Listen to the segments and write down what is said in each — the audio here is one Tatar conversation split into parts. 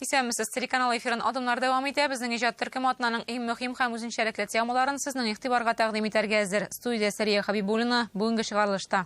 Исәнмесез, телеканал эфирын адымнар дәвам итә. Безнең иҗат төркеме атнаның иң мөһим һәм үзенчәлекле темаларын сезнең игътибарга тәкъдим итәргә әзер. Студия Сәрия Хабибуллина бүгенге чыгарылышта.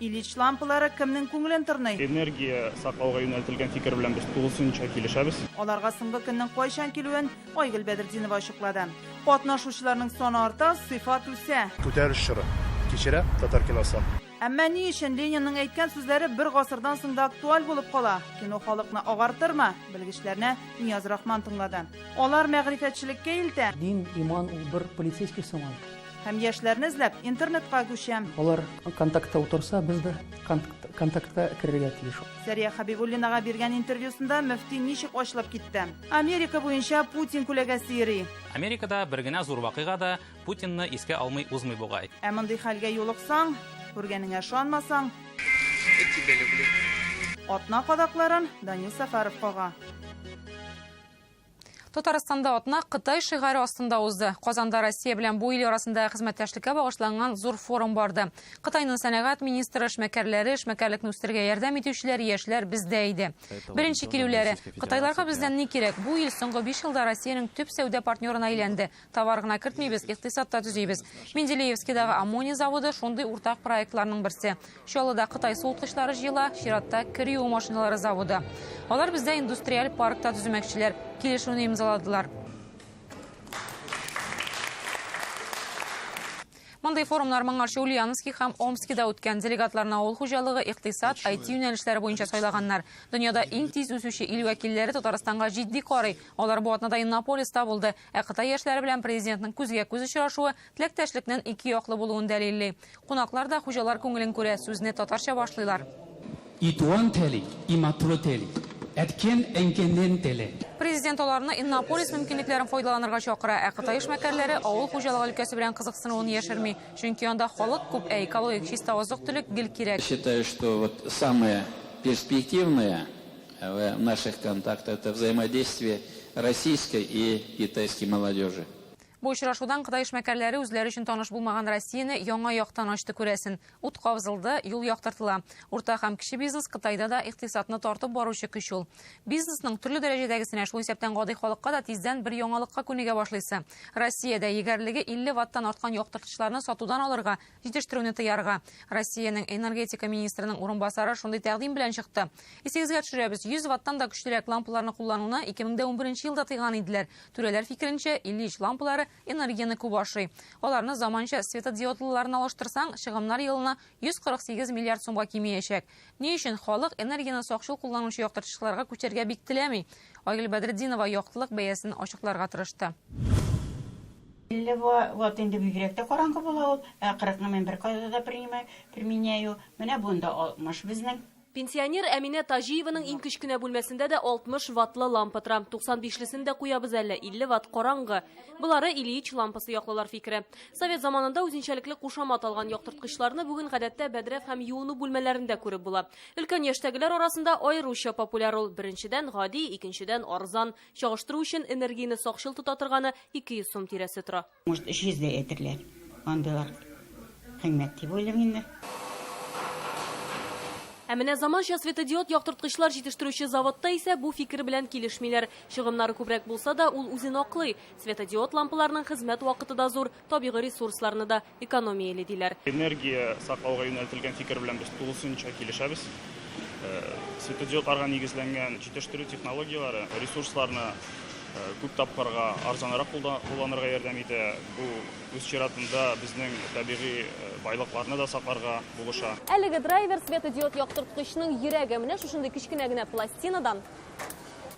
Ильич лампалары кемнең күңелен тырный? Энергия саклауга юнәлтелгән фикер белән без тулысынча килешәбез. Аларга соңгы көннең кайчан килүен Айгөл Бәдертдинова ачыклады. Катнашучыларның саны арта, сыйфат үсә. Күтәрелеш чоры кичерә татар киносы. Әмма ни өчен Ленинның әйткән сүзләре бер гасырдан соң да актуаль булып кала? Кино халыкны агартырмы? Белгечләрне Нияз Рахман тыңлады. Алар мәгърифәтчелеккә илтә. Дин, иман ул бер полицейский соң ул. Һәм яшьләрне эзләп интернетка күчәм. Алар контактта утырса, без дә контактка керергә тиеш. Сәрия Хабибуллинага биргән интервьюсында мөфти ничек ачылып китте? Америка буенча Путин күләгәсе йөри. Америкада бер генә зур вакыйга да Путинны искә алмый узмый бугай. Ә мондый хәлгә юлыксаң, күргәнеңә ышанмасаң, атна кадакларын Данил Сәфәров кага. Татарстанда атна Кытай шигаре астында узды. Казанда Россия белән бу ил арасында хезмәттәшлеккә багышланган зур форум барды. Кытайның сәнәгать министры, эшмәкәрләре, эшмәкәрлекне үстерергә ярдәм итүчеләр, яшьләр бездә иде. Беренче килүләре, Кытайларга бездән ни кирәк? Бу ил соңгы биш елда Россиянең төп сәүдә партнерына әйләнде. Товар гына кертмибез, икътисад та төзибез. Менделеевскидагы аммоний заводы шундый уртак проектларның берсе. Чаллыда Кытай суыткычлары җыела, чиратта кер юу машиналары заводы. Алар бездә индустриаль паркта төземәкчеләр. Килешүне имзаладылар. Мондый форумнар моңарчы Ульяновски һәм Омскида үткән. Делегатларны авыл хуҗалыгы, икътисад, IT юнәлешләре буенча сайлаганнар. Дөньяда иң тиз үсүче ил вәкилләре Татарстанга җитди карый. Алар бу атнада Иннополиста булды. Ә Кытай яшьләре белән президентның күзгә-күз очрашуы теләктәшлекнең ике яклы булуын дәлилли. Кунаклар да хуҗалар күңелен күрә, сүзне татарча башлыйлар. И туган теле, и матур теле. Әткән, әнкәннән теле. Президент аларны Иннополис мөмкинлекләрен файдаланырга чакыра, ә кытай эшмәкәрләре авыл хуҗалыгы өлкәсе белән кызыксынуын яшерми, чөнки анда халык күп, ә экологик чиста азык-төлек гел кирәк. Считаю, что вот самое перспективное Вә наших контакт это взаимодействие российской и китайской молодежи. Бу очрашудан кытай эшмәкәрләре үзләре өчен таныш булмаган Россияне яңа яктан ачты күрәсен. Ут кабзылды, юл яктыртыла. Урта һәм кече бизнес Кытайда да икътисадны тартып баручы көч ул. Бизнесның төрле дәрәҗәдәгесенә, шул исәптән гади халыкка да тиздән бер яңалыкка күнегә башлыйсы. Россиядә егәрлеге 50 ваттан арткан яктыртычларны сатудан алырга җитештерүне тыярга. Россиянең энергетика министрының урынбасары шундый тәкъдим белән чыкты. Исегезгә төшерәбез, 100 ваттан да көчлерәк лампаларны куллануны 2011 елда тыйган иделәр. Түрәләр фикеренчә, Ильич лампалары энергияне күп ашый. Аларны заманча светодиодлыларына алыштырсаң, чыгымнар елына 148 миллиард сумга кимеячәк. Ни өчен халык энергияне сакчыл кулланучы яктыртычларга күчәргә бик теләми? Айгөл Бәдретдинова яктылык бәясен ачыкларга тырышты. 50 ватт инде бигрәк тә караңгы була ул, ә 40 ны мин беркайда да принимаю, применяю. Менә бу инде 60 безнең. Пенсионер Әминә Таҗиеваның иң кечкенә бүлмәсендә дә 60 ваттлы лампа тора. 95 лесен дә куябыз әле, 50 ватт караңгы. Болары Ильич лампасы яклылар фикере. Совет заманында үзенчәлекле кушамат алган яктырткычларны бүген гадәттә бәдрәф һәм юыну бүлмәләрендә күреп була. Өлкән яшьтәгеләр арасында аеруча популяр ул. Беренчедән, гади, икенчедән, арзан. Чагыштыру өчен, энергияне сакчыл тота торганы 200 сум тирәсе тора. Может, 300 дә әйтерләр. Андыйлар кыйммәт дип уйлыйм инде. Ә менә заманча светодиод яктырткычлар җитештерүче заводта исә бу фикер белән килешмиләр. Чыгымнары күбрәк булса да, ул үзен аклый. Светодиод лампаларының хезмәт вакыты да зур, табигый ресурсларны да экономияли, диләр. Энергия саклауга юнәлтелгән фикер белән без тулысынча килешәбез. Светодиодларга нигезләнгән җитештерү технологияләре ресурсларны күп тапкырга арзанрак кулланырга ярдәм итә. Бу, үз чиратында, безнең табигый байлыкларны да сакларга булыша. Әлеге драйвер, светодиод яктырткычның йөрәге. Менә шушындый кечкенә генә пластинадан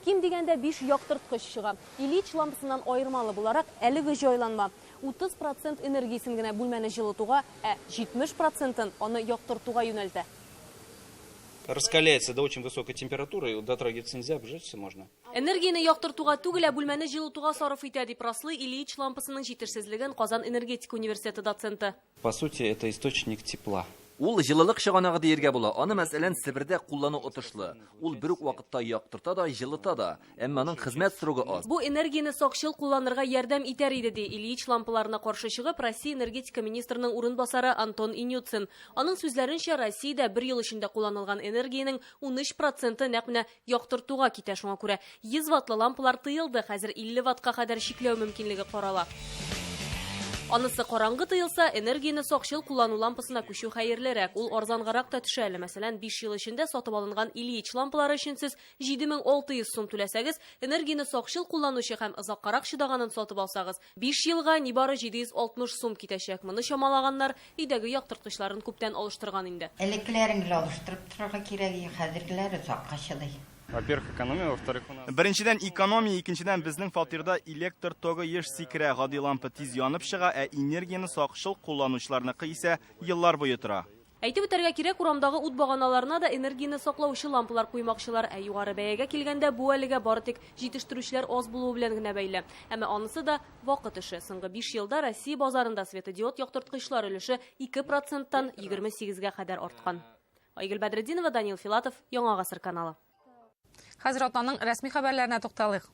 ким дигәндә биш яктырткыч чыга. Ильич лампасыннан аермалы буларак, әлеге җайланма 30 процент энергиясен генә бүлмәне җылытуга, ә 70 процентын аны яктыртуга юнәлтә. Раскаляется до очень высокой температуры, и дотрагиваться нельзя, обжечься можно. Энергияне яктыртуга түгел, ә бүлмәне җылытуга сарыф итә, дип раслый Ильич лампасының җитешсезлеген Казан энергетика университеты доценты. По сути, это источник тепла. Ул җылылык чыганагы диергә була. Аны, мәсәлән, Себердә куллану отышлы. Ул бер үк вакытта яктырта да, җылыта да. Әмма аның хезмәт срогы аз. Бу энергияне сакчыл кулланырга ярдәм итәр иде, ди Ильич лампаларына каршы чыгып Россия энергетика министрының урынбасары Антон Инюцин. Аның сүзләренчә, Россиядә бер ел эчендә кулланылган энергиянең унөч проценты нәкъ менә яктыртуга китә, шуңа күрә 100 ваттлы лампалар тыелды, хәзер 50 ваттка кадәр чикләү мөмкинлеге карала. Анысы караңгы тыелса, энергияне сакчыл куллану лампасына күчү хәерлерәк. Ул арзангарак та төшә әле. Мәсәлән, 5 ел эчендә сатып алынган Ильич лампалары өчен сез 7600 сум түләсәгез, энергияне сакчыл кулланучы һәм озаккарак чыдаганын сатып алсагыз, Биш елга нибары 760 сум китәчәк. Моны чамалаганнар, өйдәге яктырткычларын күптән алыштырган инде. Элеккеләрен гел алыштырып торырга кирәк, и хәзергеләр озакка чыдый. Во-первых, экономия, во-вторых, у нас. Беренчедән, экономия, икенчедән, безнең фатирда электр тогы еш сикерә, гади лампа тиз янып чыга, ә энергияне сакчыл кулланучыларныкы исә еллар буе тора. Әйтеп үтәргә кирәк, урамдагы ут баганаларына да энергияне саклаучы лампалар куймакчылар. Ә югары бәягә килгәндә, бу әлегә бары тик җитештерүчеләр аз булуы белән генә бәйле. Әмма анысы да, вакыт эше. Соңгы биш елда Россия базарында светодиод яктырткычлар өлеше ике проценттан егерме сигезгә кадәр арткан. Айгөл Бәдретдинова, Данил Филатов, Яңа гасыр каналы. Хәзер атнаның рәсми хәбәрләренә тукталыйк.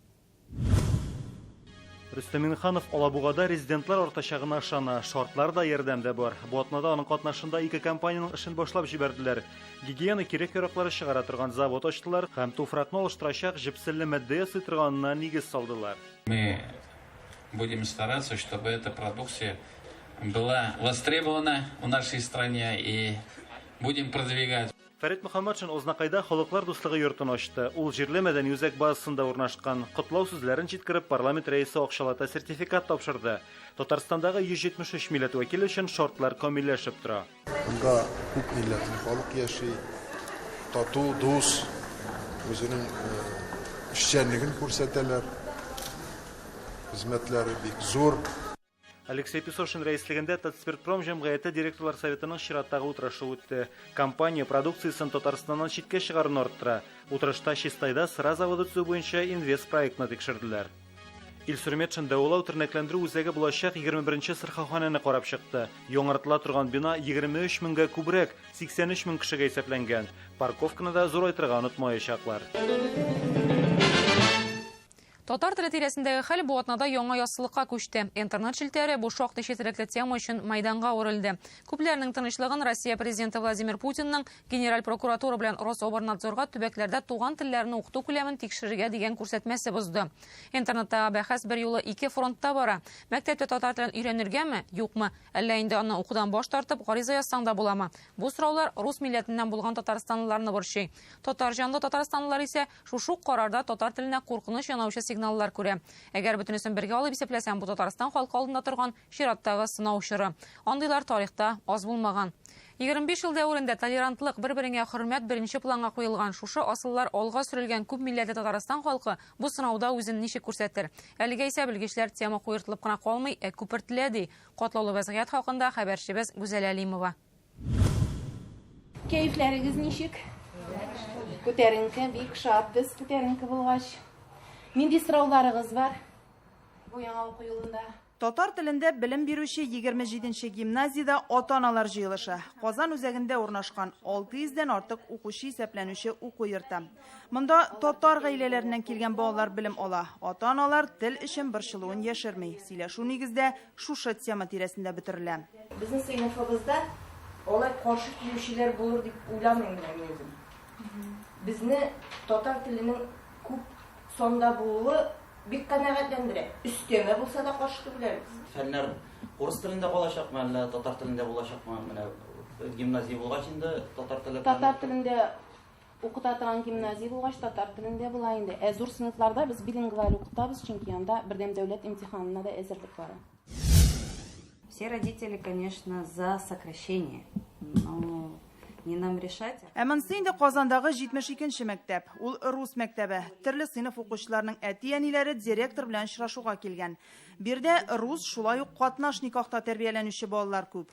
Рөстәм Минханов Алабугада резидентлар артачагына ышана. Шартлар да, ярдәм дә бар. Бу атнада аның катнашында ике компаниянең эшен башлап җибәрделәр. Гигиена кирәк-яраклары чыгара торган завод ачтылар һәм туфракны алыштырачак җепселле матдә ясый торганына нигез салдылар. Мы будем стараться, чтобы эта продукция была востребована в нашей стране и будем продвигать. Фәрит Мөхәммәтшин Ознакайда халыклар дуслыгы йортын ачты. Ул җирле мәдәни үзәк базасында урнашкан. Котлау сүзләрен җиткереп, парламент рәисе акчалата сертификат тапшырды. Татарстандагы 173 милләт вәкиле өчен шартлар камилләшеп тора. Монда күп милләтле халык яши, тату, дус, үзенең эшчәнлеген күрсәтәләр. Хезмәтләре бик зур. Алексей Песошин рәислегендә Татспиртпром җәмгыяте директорлар советының чираттагы утырышы үтте. Компания продукциясен Татарстаннан читкә чыгаруны арттыра. Утырышта Чистайда сыра заводы төзү буенча инвест проектны тикшерделәр. Илсур Метшин дәвалау тернәкләндерү үзәге булачак 21-нче сырхауханәне карап чыкты. Яңартыла торган бина 23 меңгә күбрәк, 83 мең кешегә исәпләнгән. Парковканы да зурайтырга онытмаячаклар. Татар теле тирәсендәге хәл бу атнада яңа яссылыкка күчте. Интернет челтәре бу шактый четерекле тема өчен мәйданга әверелде. Күпләрнең тынычлыгын Россия Президенты Владимир Путинның Генераль прокуратура белән Рособорнадзорга төбәкләрдә туган телләрне укыту күләмен тикшерергә дигән күрсәтмәсе бозды. Интернеттагы бәхәс берьюлы ике фронтта бара. Мәктәптә татар телен өйрәнергәме, юкмы? Әллә инде аны укудан баш тартып, гариза язсаң да буламы? Бу сораулар рус милләтеннән булган татарстанлыларны борчый. Татар җанлы татарстанлылар исә Шушы ук карарда татар теленә куркыныч янаучы сигналлар күрә. Әгәр бөтенесен бергә алып исәпләсәң, бу Татарстан халкы алдында торган чираттагы сынау чоры. Андыйлар тарихта аз булмаган. 25 ел дәверендә толерантлык, бер-береңә хөрмәт беренче планга куелган, шушы асыллар алга сөрелгән күп милләтле Татарстан халкы бу сынауда үзен ничек күрсәтер? Әлегә исә белгечләр тема куертылып кына калмый, ә күпертелә, ди катлаулы вәзгыять хакында хәбәрчебез Гүзәлә Әлимова. Кәефләрегез ничек? Күтәренке, бик шат без күтәренке булгач. Нинди сорауларыгыз бар? Бу яңа уку елында. Татар телендә белем бирүче 27-нче гимназиядә ата-аналар җыелышы. Казан үзәгендә урнашкан 600 дән артык укучы исәпләнүче уку йорты. Монда татар гаиләләреннән килгән балалар белем ала. Ата-аналар тел өчен борчылуын яшерми. Сөйләшү нигездә шушы тема тирәсендә бөтерелә. Безнең сыйныфыбызда алай каршы килүчеләр булыр дип уйламыйм мин үзем. Безне татар теленең күп санда булуы бик канәгатьләндерә. Өстәмә булса да каршы түгеләбез. Фәннәр урыс телендә калачакмы, әллә татар телендә булачакмы? Менә гимназия булгач инде татар теле. Татар телендә Укыта торган гимназия булгач, татар телендә була инде. Ә зур сыйныфларда без билингваль укытабыз, чөнки анда бердәм дәүләт имтиханына да әзерлек бара. Все родители, конечно, за сокращение, но не нам решать. Ә монсы инде Казандагы 72-нче мәктәп. Ул рус мәктәбе. Төрле сыйныф укучыларының әти-әниләре директор белән очрашуга килгән. Бирдә рус, шулай ук катнаш никахта тәрбияләнүче балалар күп.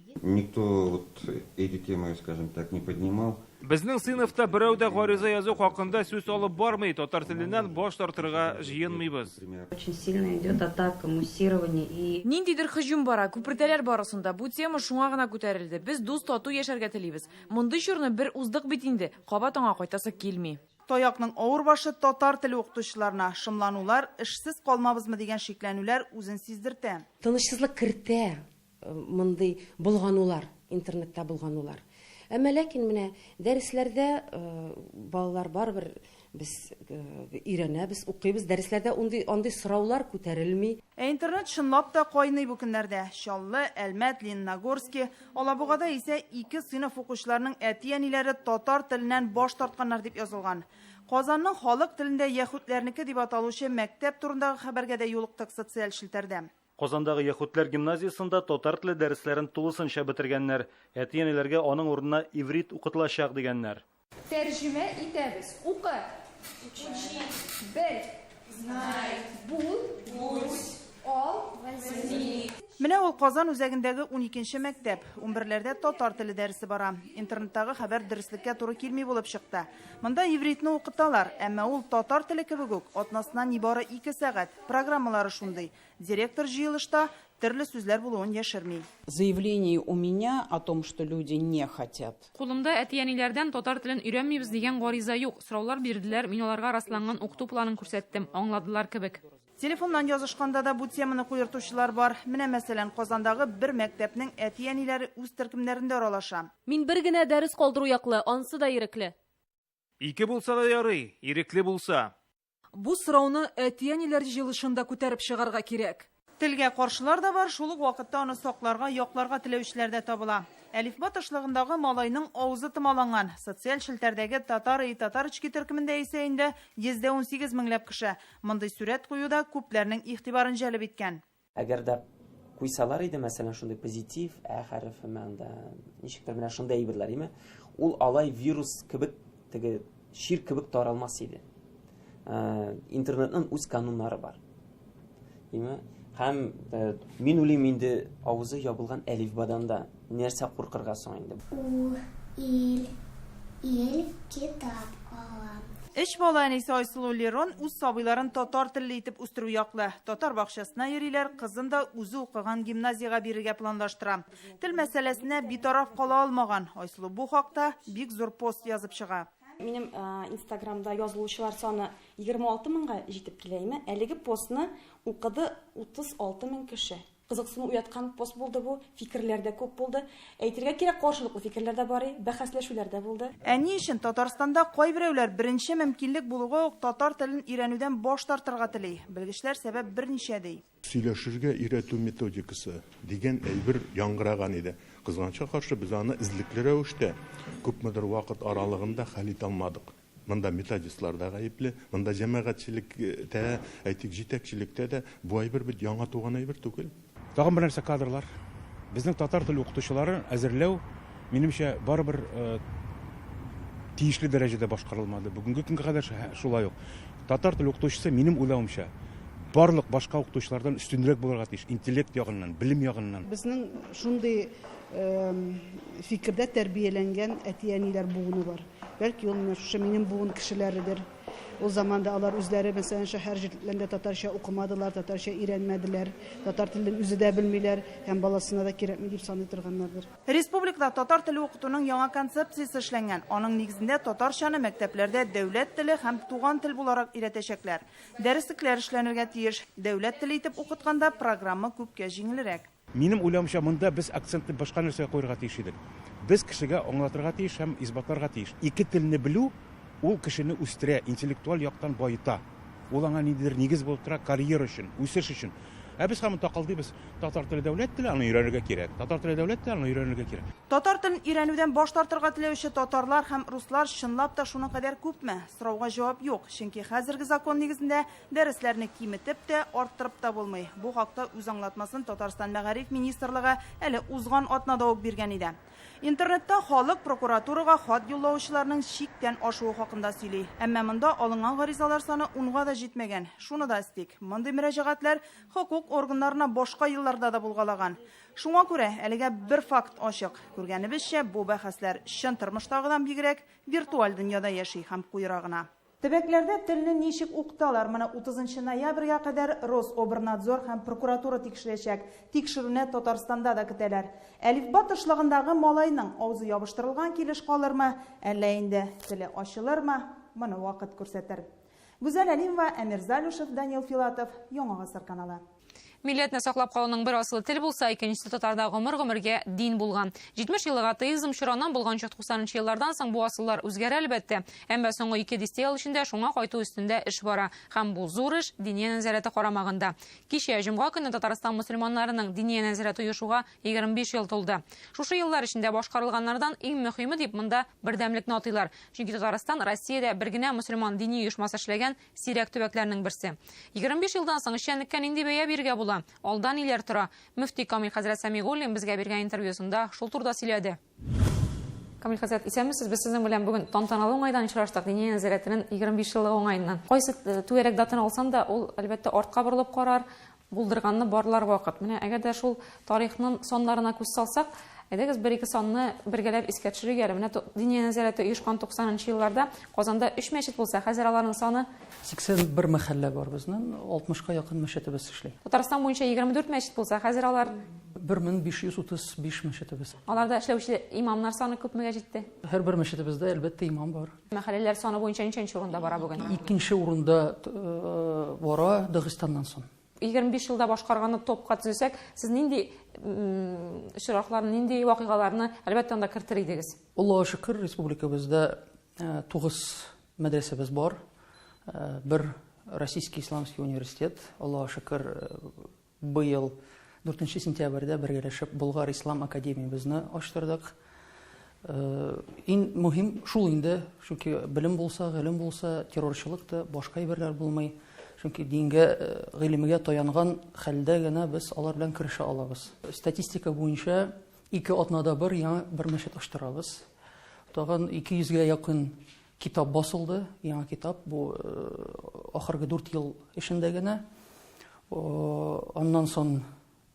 Никто вот эти темы, скажем так, не поднимал. Безнең сыйныфта берәү дә гариза язу хакында сүз алып бармый, татар теленнән баш тартырга җыенмыйбыз. Очень сильно идет атака, муссирование и. Ниндидер һөҗүм бара, күпертәләр барысын да. Бу тема шуңа гына күтәрелде. Без дус, тату яшәргә телибез. Мондый чорны бер уздык бит инде, кабат аңа кайтасы килми. Таякның авыр башы татар теле укытучыларына, шомланулар, эшсез калмабызмы дигән шикләнүләр үзен сиздертә. Тынычсызлык кертә. мондый болганулар, интернетта болганулар. Әмма ләкин менә дәресләрдә балалар барыбер без өйрәнәбез, укыйбыз, дәресләрдә ундый, андый сораулар күтәрелми. Ә интернет чынлап та кайный бу көннәрдә. Чаллы, Әлмәт, Лениногорски, Алабугада исә ике сыйныф укучыларының әти-әниләре татар теленнән баш тартканнар дип язылган. Казанның халык телендә яһүдләрнеке дип аталучы мәктәп турындагы хәбәргә дә юлыктык социаль челтәрдә. Казандагы яһүдләр гимназиясендә татар теле дәресләрен тулысынча бетергәннәр. Әти-әниләргә аның урынына иврит укытылачак дигәннәр. Тәрҗемә итәбез. Укы! Учи. Бел. Знай. Бул. Будь. Ал. Возьми. Менә ул Казан үзәгендәге уникенче мәктәп. Унберләрдә татар теле дәресе бара. Интернеттагы хәбәр дөреслеккә туры килми булып чыкты. Монда ивритны укыталар, әмма ул татар теле кебек үк, атнасына нибары ике сәгать. Программалары шундый, директор җыелышта төрле сүзләр булуын яшерми. Заявление у меня о том, что люди не хотят. Кулымда әти-әниләрдән татар телен өйрәнмибез дигән гариза юк. Сораулар бирделәр, мин аларга расланган укыту планын күрсәттем, аңладылар кебек. Телефоннан язышканда да бу теманы куертучылар бар. Менә, мәсәлән, Казандагы бер мәктәпнең әти-әниләре үз төркемнәрендә аралаша. Мин бер генә дәрес калдыру яклы, ансы да ирекле. Ике булса да ярый, ирекле булса. Бу сорауны әти-әниләр җыелышында күтәреп чыгарга кирәк. Телгә каршылар да бар, шул ук вакытта аны сакларга, якларга теләүчеләр дә табыла. Әлифба тышлыгындагы малайның авызы томаланган. Социаль челтәрдәге Татар и татарочки төркемендә исә инде 118 меңләп кеше. Мондый сурәт кую да күпләрнең игътибарын җәлеп иткән. Әгәр дә куйсалар иде, мәсәлән, шундый позитив ә хәрефе мәндә, ничектер менә шундый әйберләр име, ул алай вирус кебек теге шир кебек таралмас иде. Ә, интернетның үз кануннары бар. Име? Һәм ә, мин уйлыйм инде авызы ябылган әлифбадан да Нәрсә куркырга соң инде? Ул ил, ил китап алам. Өч бала әнисе Айсылу Лерон үз сабыйларын татар телле итеп үстерү яклы. Татар бакчасына йөриләр, кызын да үзе укыган гимназиягә бирергә планлаштыра. Тел мәсьәләсенә битараф кала алмаган Айсылу бу хакта бик зур пост язып чыга. Минем инстаграмда язылучылар саны 26 меңга җитеп килә име, әлеге постны укыды 36 мең кеше. Кызыксыну уяткан пост булды бу, фикерләр дә күп булды. Әйтергә кирәк, каршылыклы фикерләр дә бар, бәхәсләшүләр дә булды. Ә ни өчен Татарстанда кайберәүләр беренче мөмкинлек булуга ук татар телен өйрәнүдән баш тартырга тели? Белгечләр сәбәп берничә, ди. Сөйләшергә өйрәтү методикасы дигән әйбер яңгыраган иде. Кызганычка каршы, без аны эзлекле рәвештә, күпмедер вакыт аралыгында хәл итә алмадык. Монда методистлар да гаепле, монда җәмәгатьчелек тә, әйтик, җитәкчелектә дә. Бу әйбер бит яңа туган әйбер түгел. Тагын бер нәрсә, кадрлар. Безнең татар теле укытучылары әзерләү, минемчә, барыбер тиешле дәрәҗәдә башкарылмады. Бүгенге көнгә кадәр шулай ук. Татар теле укытучысы, минем уйлавымча, барлык башка укытучылардан өстенрәк булырга тиеш, интеллект ягыннан, белем ягыннан. Безнең шундый фикердә тәрбияләнгән әти-әниләр буыны бар. Бәлки ул менә шушы минем буын кешеләредер. Ул заманда алар үзләре, мәсәлән, шәһәр җирләрендә татарча укымадылар, татарча өйрәнмәделәр, татар телен үзе дә белмиләр һәм баласына да кирәкми дип саный торганнардыр. Республикада татар теле укытуның яңа концепциясе эшләнгән. Аның нигезендә татарчаны мәктәпләрдә дәүләт теле һәм туган тел буларак өйрәтәчәкләр. Дәреслекләр эшләнергә тиеш. Дәүләт теле итеп укытканда программа күпкә җиңелрәк. Минем уйлавымча, монда без акцентны башка нәрсәгә куярга тиеш идек. Без кешегә аңлатырга тиеш һәм исбатларга тиеш. Ике телне белү, ул кешене үстерә, интеллектуаль яктан баета. Ул аңа ниндидер нигез булып тора, карьера өчен, үсеш өчен. Ә без һаман такылдыйбыз, татар теле дәүләт теле, аны өйрәнергә кирәк, татар теле дәүләт теле, аны өйрәнергә кирәк. Татар телен өйрәнүдән баш тартырга теләүче татарлар һәм руслар чынлап та шуның кадәр күпме? Сорауга җавап юк, чөнки хәзерге закон нигезендә Дәресләрне киметеп тә, арттырып та булмый. Бу хакта үз аңлатмасын Татарстан мәгариф министрлыгы әле узган атнада ук биргән иде. Интернетта халык прокуратурага хат юллаучыларның чиктән ашуы хакында сөйли. Әмма монда алынган гаризалар саны унга да җитмәгән. Шуны да әстик, мондый мөрәҗәгатьләр хокук органнарына башка елларда да булгалаган. Шуңа күрә әлегә бер факт ачык, күргәнебезчә, бу бәхәсләр чын тормыштагыдан бигрәк виртуаль дөньяда яши һәм куера гына. Төбәкләрдә телне ничек укыталар? Моны утызынчы ноябрьгә кадәр Рособрнадзор һәм прокуратура тикшерәчәк. Тикшерүне Татарстанда да көтәләр. Әлифба тышлагындагы малайның авызы ябыштырылган килеш калырмы, әллә инде теле ачылырмы, моны вакыт күрсәтер. Гүзәл Әлимова, Әмир Залюшев, Данил Филатов, Яңа гасыр каналы. Милләтне саклап калуның бер асылы тел булса, икенчесе татарда гомер-гомергә дин булган. 70 еллык атеизм чораннан булганча 90 еллардан соң бу асыллар үзгәрә әлбәттә. Әмма соңгы ике дистә ел эчендә шуңа кайту өстендә эш бара. Һәм бу зур эш Диния нәзарәте карамагында. Кичә, җомга көне Татарстан мөселманнарының Диния нәзарәте оешуга 25 ел тулды. Шушы еллар эчендә башкарылганнардан иң мөхиме дип монда бердәмлекне атыйлар. Чөнки Татарстан Россиядә бер генә мөселман дини оешмасы эшләгән Сирәк төбәкләрнең берсе. 25 елдан соң эшчәнлеккә нинди бәя биргә була? Алда ниләр тора? Мөфти Камил хәзрәт Сәмигуллин безгә биргән интервьюсында шул турда сөйләде. Камил хәзрәт, исәнмесез. Без сезнең белән бүген тантаналы уңайдан очраштык, Диния нәзарәтенең 25 еллыгы уңаеннан. Кайсы э, түгәрәк датаны алсам да, ул, әлбәттә, артка борылып карар, Булдырганны барлар вакыт. Менә әгәр дә шул тарихнын саннарына күз салсак, әйдәгез бер-ике санны бергәләп искә төшерик әле. Менә Диния нәзарәте оешкан 90 нчы елларда Казанда өч мәчет булса, хәзер аларның саны. 81 мәхәллә бар безнен, 60 ка якын мәчетебез эшли. Татарстан буенча 24 мәчет булса, хәзер алар. 1535 мәчетебез. Аларда эшләүче имамнар саны күпмегә җитте? Һәрбер мәчетебездә, әлбәттә, имам бар. Мәхәлләләр саны буенча ничәнче урында бара бүген? Икенче урында бара Дагыстаннан соң. 25 елда башкарганы топка төзесәк, сез нинди очракларны, нинди вакыйгаларны әлбәттә анда кертер идегез? Аллага шөкер, республикабызда тугыз мәдрәсәбез бар. Бер Российский исламский университет, Аллага шөкер, Быел дүртенче сентябрьдә бергәләшеп Болгар ислам академиябезне ачтырдык. Иң мөһим шул инде, чөнки белем булса, гыйлем булса, террорчылык та, башка әйберләр булмый. Чөнки дингә, гыйлемгә таянган хәлдә генә без алар белән керешә алабыз. Статистика буенча ике атнада бер яңа бер мәчет ачтырабыз. Тагын 200 гә якын Китап басылды, яңа китап, бу ахыргы дүрт ел эчендә генә. Аннан сон,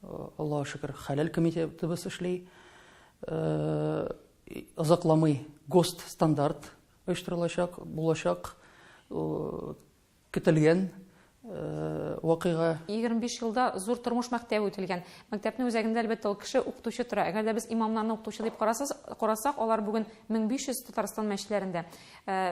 Аллага шөкер, хәләл комитетыбыз эшли. Озакламый ГОСТ стандарт оештырылачак, булачак. Көтелгән вакыйга. Егерме биш елда зур тормыш мәктәбе үтелгән. Мәктәпнең үзәгендә, әлбәттә, ул кеше, укытучы тора. Әгәр дә без имамнарны укытучы дип карасыз, карасак, алар бүген мең биш йөз Татарстан мәчетләрендә.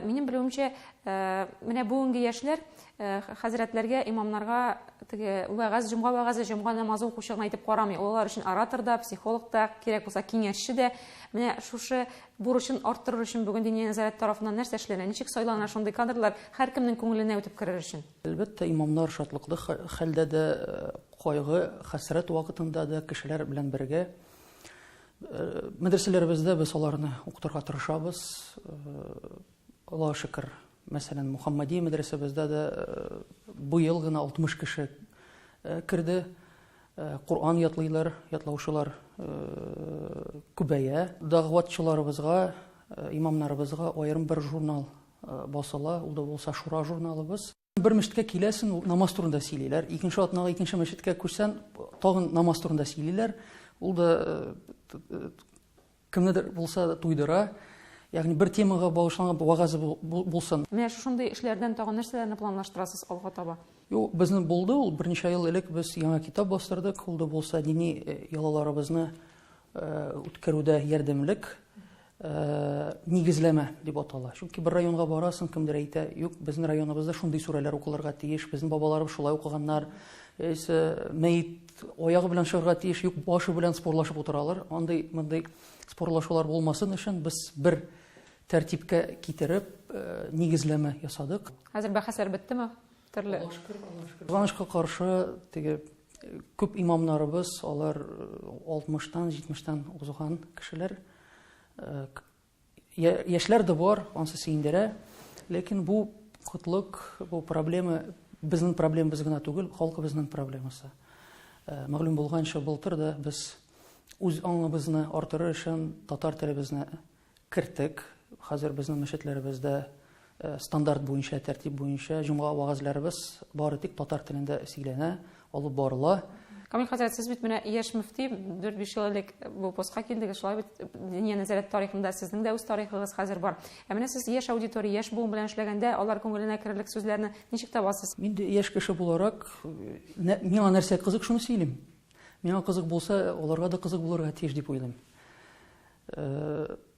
Минем белүемчә, менә бүгенге яшьләр хәзрәтләргә, имамнарга теге вәгазь, җомга вәгазе, җомга намазы укучы гына итеп карамый. Ул алар өчен оратор да, психолог та, кирәк булса, киңәшче дә. Менә шушы Бурычын арттырыр өчен бүген Диния нәзарәте тарафыннан нәрсә эшләнә? Ничек сайлана шундый кадрлар, һәркемнең күңеленә үтеп керер өчен? Әлбәттә, имамнар шатлыклы хәлдә дә, кайгы, хәсрәт вакытында да кешеләр белән бергә. Мәдрәсәләребездә без аларны укытырга тырышабыз. Аллага шөкер, Мәсәлән, Мухаммадия мәдрәсәбездә дә быел гына 60 кеше керде. Коръан ятлыйлар, ятлаучылар күбәя. Дагъватчыларыбызга, имамнарыбызга аерым бер журнал басыла, ул да булса Шура журналыбыз. Бер мәчеткә киләсен, намаз турында сөйлиләр. Икенче атнага икенче мәчеткә күчсән, тагын намаз турында сөйлиләр. Ул да Кемнедер булса да туйдыра, ягъни бер темага багышланган вагазы булсын. Менә шушындый эшләрдән тагын нәрсәләрне планлаштырасыз алга таба? Юк, безнең булды ул. Берничә ел элек без яңа китап бастырдык. Ул да булса дини э, ялаларыбызны э, үткәрүдә ярдәмлек э, нигезләмә дип атала. Чөнки бер районга барасың, кемдер әйтә, юк, безнең районыбызда шундый сүрәләр укылырга тиеш, безнең бабаларыбыз шулай укыганнар, яисә мәет Аягы белән чыгарга тиеш, юк башы белән спорлашып утыралар. Андый мондый спорлашулар булмасын өчен без бер тәртипкә китереп, э, нигезләмә ясадык. Хәзер бәхәсләр беттеме? Төрле. Кызганычка каршы, теге э, күп имамнарыбыз, алар 60-тан, э, 70-тан узган кешеләр. Яшьләр дә бар, ансы сөендерә. Ләкин бу кытлык, бу проблема безнең проблемабыз гына түгел, халкыбызның проблемасы. Э, мәгълүм булганча, былтыр да без үз аңыбызны артыру өчен татар телебезне керттек. Хәзер безнең мәчетләребездә Стандарт буенча, тәртип буенча җомга вәгазьләребез бары тик татар телендә сөйләнә, алып барыла. Камил хәзрәт, сез бит менә яшь мөфти, 4-5 ел элек бу постка килдегез, шулай бит Диния нәзарәт тарихында сезнең дә үз тарихыгыз хәзер бар. Ә менә сез яшь аудитория, яшь буын белән эшләгәндә, алар күңеленә керерлек сүзләрне ничек табасыз? Мин дә яшь кеше буларак, миңа нәрсә кызык, шуны сөйлим. Миңа кызык булса, аларга да кызык булырга тиеш дип уйлыйм.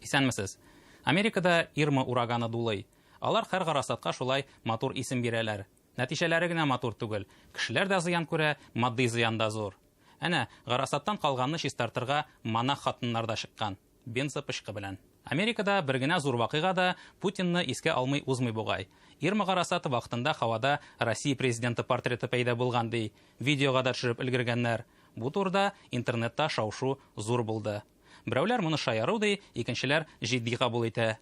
Исәнмесез. Америкада Ирма ураганы дулый. Алар хәр гарасатка шулай матур исем бирәләр. Нәтиҗәләре генә матур түгел. Кешеләр дә зыян күрә, матди зыян да зур. Әнә, гарасаттан калганны чистартырга монах хатыннар да чыккан. Бензопычкы белән. Америкада бер генә зур вакыйга да Путинны искә алмый узмый бугай. Ирма Гарасат вакытында һавада Россия президенты портреты пәйда булган, ди. Видеога да төшереп өлгергәннәр. Бу турыда интернетта шау-шу зур булды. Берәүләр моны шаяру ди, икенчеләр җитди кабул итә.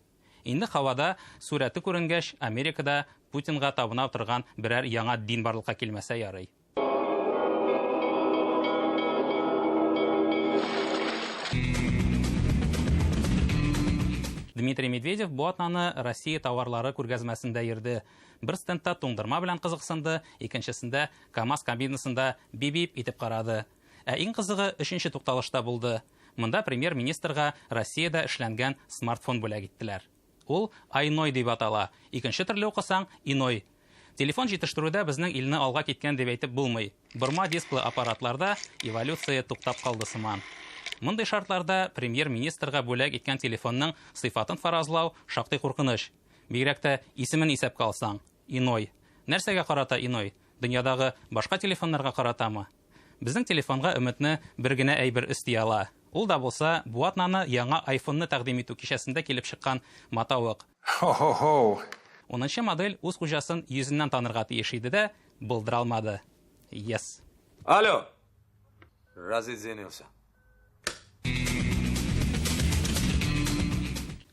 Инде һавада сурәте күренгәч, Америкада Путинга табына утырган берәр яңа дин барлыкка килмәсә ярый. Дмитрий Медведев бу атнаны Россия товарлары күргәзмәсендә йөрде. Бер стендта туңдырма белән кызыксынды, икенчесендә КАМАЗ кабинасында бибип итеп карады. Ә иң кызыгы өченче тукталышта булды. Монда премьер-министрга Россиядә эшләнгән смартфон бүләк иттеләр. Ул Айной дип атала, икенче төрле укысаң, Иной. Телефон җитештерүдә безнең илне алга киткән дип әйтеп булмый. Борма дисклы аппаратларда эволюция туктап калды сыман. Мондый шартларда премьер-министрга бүләк иткән телефонның сыйфатын фаразлау шактый куркыныч. Бигрәк тә исемен исәпкә алсаң, Иной. Нәрсәгә карата Иной? Дөньядагы башка телефоннарга каратамы? Безнең телефонга өметне бер генә әйбер өсти ала, ул да булса, бу атнаны яңа айфонны тәкъдим итү кичәсендә килеп чыккан матавык. Хо-хо-хо! Унынчы модель үз хуҗасын йөзеннән танырга тиеш иде дә, булдыралмады. Yes. Алло! Разыдзенился.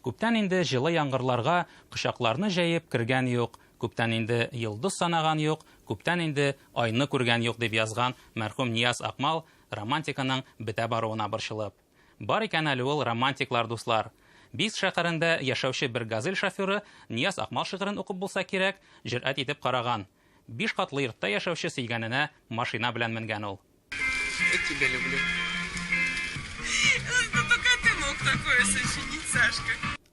Күптән инде җылы яңгырларга кочакларны җәеп кергән юк, күптән инде йолдыз санаган юк, күптән инде айны күргән юк, дип язган мәрхүм Нияз Акмал романтиканың бетә баруына борчылып. Бар икән әле ул романтиклар, дуслар. Бийск шәһәрендә яшәүче бер газель шоферы Нияз Акмал шигырен укып булса кирәк, җөрьәт итеп караган. Биш катлы йортта яшәүче сөйгәненә машина белән менгән ул.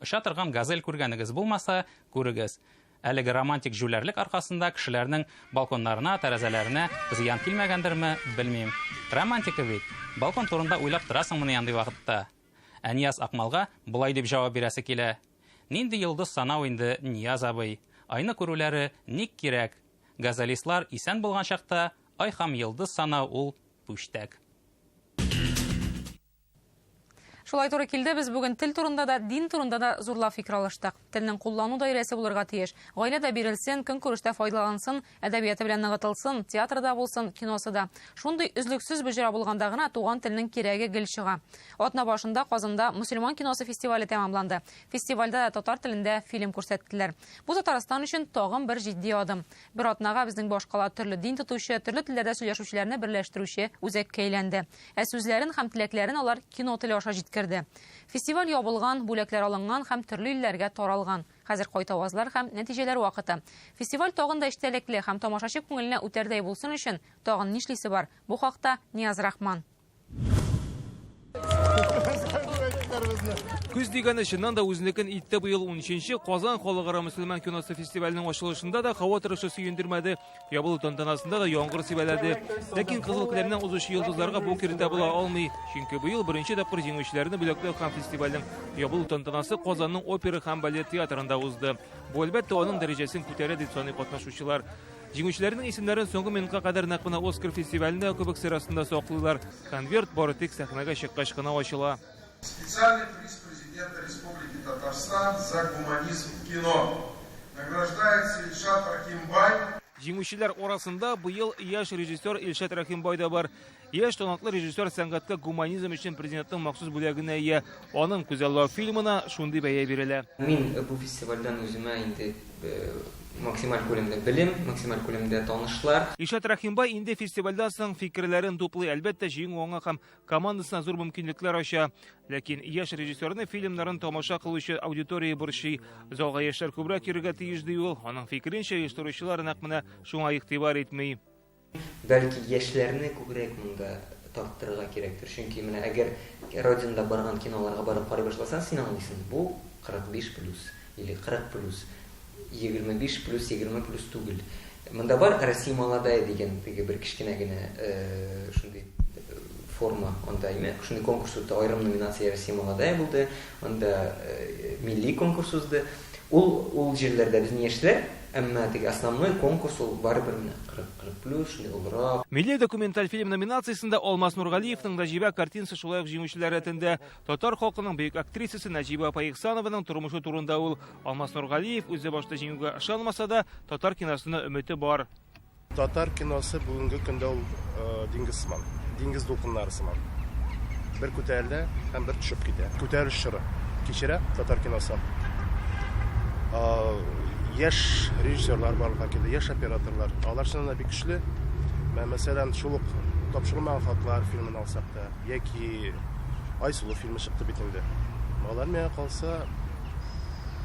Оча торган газель күргәнегез булмаса, күрегез. Әлеге романтик җүләрлек аркасында кешеләрнең балконнарына, тәрәзәләренә зыян килмәгәндерме, белмим. Романтика бит. Балкон турында уйлап торасыңмыни андый вакытта? Ә Нияз Акмалга болай дип җавап бирәсе килә. Нинди йолдыз санау инде, Нияз абый. Айны күрүләре ник кирәк? Газелистлар исән булган чакта Ай хам йылдыз санау ул пүчтәк. Шулай туры килде, без бүген тел турында да, дин турында да зурлап фикер алыштык. Телнең куллану даирәсе булырга тиеш. Гаиләдә бирелсен, көнкүрештә файдалансын, әдәбияты белән ныгытылсын, театрда булсын, киносы да. Шундый өзлексез боҗра булганда гына туган телнең кирәге гел чыга. Атна башында Казанда мусульман киносы фестивале тәмамланды. Фестивальдә дә татар телендә фильм күрсәттеләр. Бу Татарстан өчен тагын бер җитди адым. Бер атнага безнең башкала төрле дин тотучы, төрле телләрдә сөйләшүчеләрне берләштерүче үзәккә әйләнде. Ә сүзләрен һәм теләкләрен алар кино теле аша җиткерде. Фестиваль ябылган, бүләкләр алынган һәм төрле илләргә таралган. Хәзер кайтавазлар һәм нәтиҗәләр вакыты. Фестиваль тагын да эчтәлекле һәм тамашачы күңеленә үтәрдәй булсын өчен тагын нишлисе бар? Бу хакта Нияз Рахман. Күз дигәне чыннан да үзенекен итте быел 13-нче Казан халыкара мөселман киносы фестиваленең ачылышында да һава торышы сөендермәде. Ябылу тантанасында да яңгыр сибәләде. Ләкин Кызыл Келәмнән узучы йолдызларга бу киртә була алмый. Чөнки быел беренче тапкыр җиңүчеләрне бүләкләү һәм фестивальнең ябылу тантанасы Казанның опера һәм балет театрында узды. Бу әлбәттә аның дәрәҗәсен күтәрә дип саный катнашучылар. Җиңүчеләрнең исемнәрен соңгы минутка кадәр нәкъ менә Оскар фестивалендә кебек сер астында саклыйлар. Конверт бары тик сәхнәгә чыккач кына ачыла. Специальный приз Президента Республики Татарстан за гуманизм в кино. Награждается Ильшат Рахимбай. Җиңүчеләр арасында быел яшь режиссер Ильшат Рахимбай да бар. Яшь талантлы режиссер сәнгатькә гуманизм өчен президентның махсус бүләгенә ия. Аның күзаллау фильмына шундый бәя бирелә. Мин бу фестивальдән үземә инде максималь күләмдә белем, максималь күләмдә танышлар. Илшат Рәхимбай инде фестивальдән соң фикерләрен туплый. Әлбәттә, җиңү аңа һәм командасына зур мөмкинлекләр ача. Ләкин яшь режиссерны фильмнарын тамаша кылучы аудитория борчый. Залга яшьләр күбрәк йөрергә тиеш, ди ул. Аның фикеренчә, оештыручылар нәкъ менә шуңа игътибар итми. Бәлки яшьләрне күбрәк монда тарттырырга кирәктер, чөнки менә әгәр Родинада барган киноларга барып карый башласаң, син аңлыйсың, бу 45 плюс или 40 плюс, 25 плюс, 20 плюс түгел. Монда бар Россия молодая дигән теге бер кечкенә генә шундый форма, анда шундый конкурс үтте, аерым номинация Россия молодая булды, анда милли конкурс узды. Ул җирләрдә безнең яшьләр Әмма теге основной конкурс ул барыбер менә 40, 40 плюс, шундый олырак. Милли документаль фильм номинациясендә Алмаз Нургалиевның Нәҗибә картинасы шулай ук җиңүчеләр рәтендә. Татар халкының бөек актрисасы Нәҗибә апа Ихсанованың тормышы турында ул. Алмаз Нургалиев үзе башта җиңүгә ышанмаса да, татар киносына өмете бар. Татар киносы бүгенге көндә ул диңгез сыман, диңгез дулкыннары сыман. Бер күтәрелә һәм бер төшеп китә. Күтәрелеш чоры кичерә татар киносы. Яшь режиссерлар барлыкка килде, яшь операторлар. Алар чыннан да бик көчле. Мәсәлән, шул ук тапшырылмаган хатлар фильмын алсак та, яки Айсылу фильмы чыкты бит инде. Алар миңа калса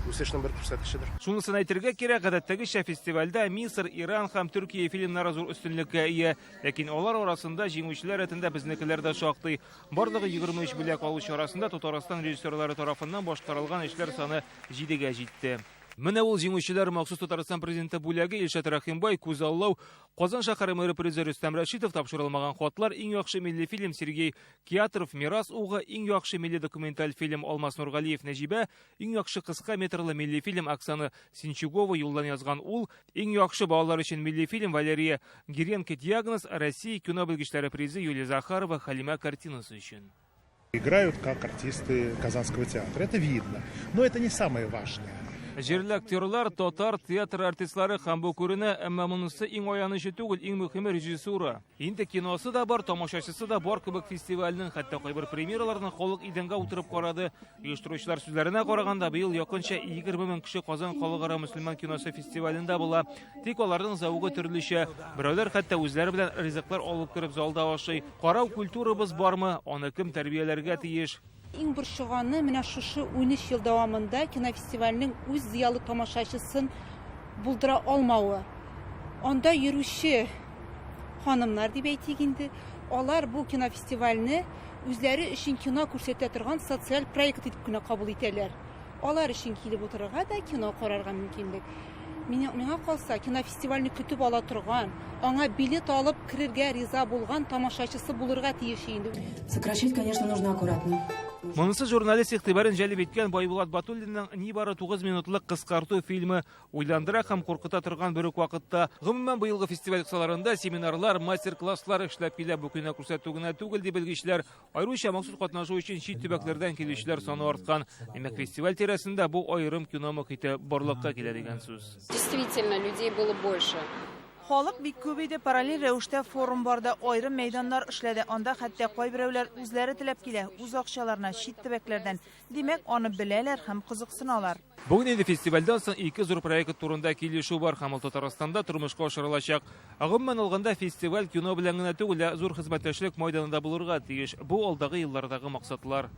үсешнең бер күрсәткечедер. Шунысын әйтергә кирәк, гадәттәгечә фестивальдә Мисыр, Иран һәм Төркия фильмнары зур өстенлеккә ия. Ләкин алар арасында җиңүчеләр рәтендә безнекеләр дә шактый. Барлыгы 23 бүләк алучы арасында Татарстан режиссерлары тарафыннан башкарылган эшләр саны 7-гә җитте. Менә ул җиңүчеләр махсус Татарстан президенты бүләге Илшат Рәхимбай, Күзаллау, Казан шәһәре мэры призы Рөстәм Рәшитов, тапшырылмаган хатлар, иң яхшы милли фильм Сергей Киатров, Мирас угы, иң яхшы милли документаль фильм Алмаз Нургалиев, Нәҗибә, Иң яхшы кыска метрлы милли фильм Оксана Синчугова юлдан язган ул, иң яхшы балалар өчен милли фильм Валерия Гиренко диагноз, Россия кино белгечләре призы Юлия Захарова Халимә картинасы өчен. Играют как артисты Казанского театра, это видно. Но это не самое важное. Җирле актерлар, татар театр артистлары һәм бу күренә, әмма монысы иң аянычы түгел, иң мөхиме режиссура. Инде киносы да бар, тамашачысы да бар кебек фестивальнең, хәтта кайбер премьераларны халык идәнгә утырып карады. Оештыручылар сүзләренә караганда, быел якынча 20 мең кеше Казан халыкара мөселман киносы фестивалендә була. Тик аларның зәвыгы төрлечә. Берәүләр хәтта үзләре белән ризыклар алып кереп залда ашый. Карау культурабыз бармы? Аны кем тәрбияләргә тиеш? Иң борчыганы, менә шушы унөч ел дәвамында кинофестивальнең үз зыялы тамашачысын булдыра алмавы. Анда йөрүче ханымнар дип әйтик инде, алар бу кинофестивальне үзләре өчен кино күрсәтә торган социаль проект итеп кенә кабул итәләр. Алар өчен килеп утырырга да, кино карарга мөмкинлек. Миңа, миңа калса, кинофестивальне көтеп ала торган, аңа билет алып керергә риза булган тамашачысы булырга тиеш инде. Сокращать, конечно, нужно аккуратно. Монысы журналист игътибарын җәлеп иткән Байбулат Батуллинның нибары 9 минутлык кыскарту фильмы уйландыра һәм куркыта торган бер үк вакытта. Гомумән, быелгы фестиваль кысаларында семинарлар, мастер-класслар эшләп килә. Бу кино күрсәтү генә түгел, ди белгечләр, Аеруча махсус катнашу өчен чит төбәкләрдән килүчеләр саны арткан. Димәк, фестиваль тирәсендә бу аерым кино мохите барлыкка килә дигән сүз. Действительно, людей было больше. Халык бик күп иде, параллель рәвештә форум барды, айрым мәйданнар эшләде, анда хәтта кайберәүләр үзләре теләп килә, үз акчаларына, чит төбәкләрдән. Димәк, аны беләләр һәм кызыксыналар. Бүген инде фестивальдән соң ике зур проект турында килешү бар һәм ул Татарстанда тормышка ашырылачак. Гомумән алганда, фестиваль кино белән генә түгел, ә зур хезмәттәшлек майданында булырга тиеш. Бу алдагы еллардагы максатлар.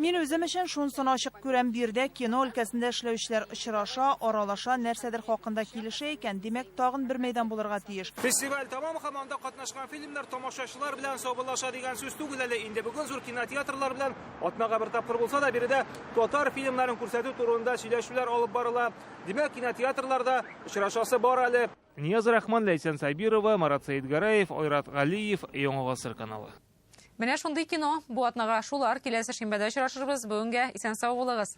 Мин үзем өчен шунсын ачык күрәм, биредә кино өлкәсендә эшләүчеләр очраша, аралаша, нәрсәдер хакында килешә икән, димәк, тагын бер мәйдан булырга тиеш. Фестиваль тәмам һәм анда катнашкан фильм Нар тамашачылар белән саубуллаша дигән сүз түгел әле. Инде бүген зур кинотеатрлар белән атнага бер тапкыр булса да биредә татар фильмнарын күрсәтү турында сөйләшүләр алып барыла. Димәк, кинотеатрларда очрашасы бар әле. Нияз Рахман, Ләйсән Сабирова, Марат Сәйдгәрәев, Айрат Галиев, Яңа гасыр каналы. Менә шундый кино. Бу атнага шулар. Киләсе шимбәдә очрашырбыз. Бүгенгә исән сау булыгыз.